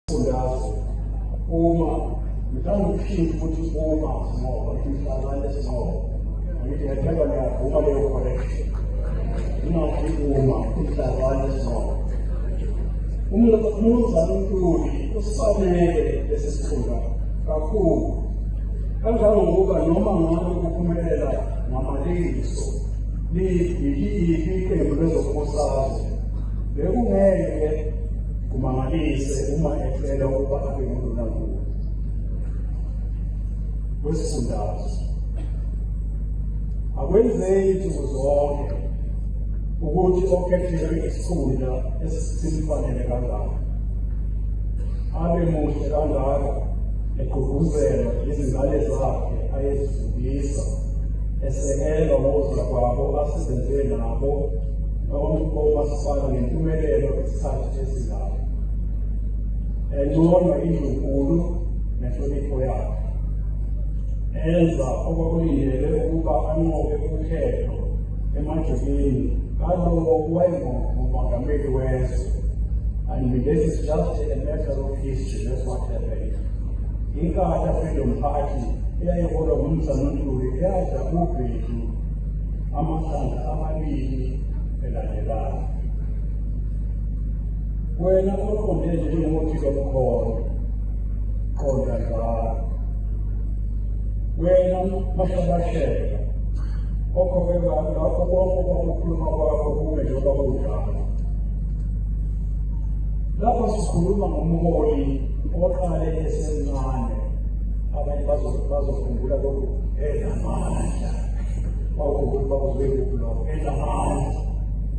Fundazwe uma ngithangiphinde ukuthi uma ngoba ngihlala lesinqobo ngithi ngethemba ngiyavuma leyo correction ingakhi uma ngihlala lesinqobo umnumzane uNtuli usifanele lesi sikhundla kakhulu kangangokuba noma ngabe kuphumelela ngamalengiso liyiphi iqembu lezombusazwe bekungeke Kumangalise uma ecela ukuba abe nguNdunankulu wesifundazwe. Akwenzeki nsuku zonke ukuthi okhethelwe isikhundla esisimfanele kangaka abe muhle kangaka egqugquzelwa izingane zakhe ayezifundisa esekelwa ngozakwabo asebenzele nabo noma umasipala ngempumelelo sabathethizayo encoma indlunkulu nenhlonipho yakhe enza okwakulindele ukuba anqobe ukhetho emajubini kalowo wayengumongameli wezwe and this is just a matter of history that's what happened inkatha freedom party eyayiholwa ngumsanantuli eyadla ubhedu amahlandla amabili elandelana wena oqonde nje njengophika bukhona qonda njalo wena mahlabashela okhokhe bantu lapho konke kwakukhuluma kwakho kume njengoba kunjalo lapho sikhuluma ngomholi oqale esemncane abanye bazokhumbula lokhu enamandla bawukuba uzwe kulokho enamandla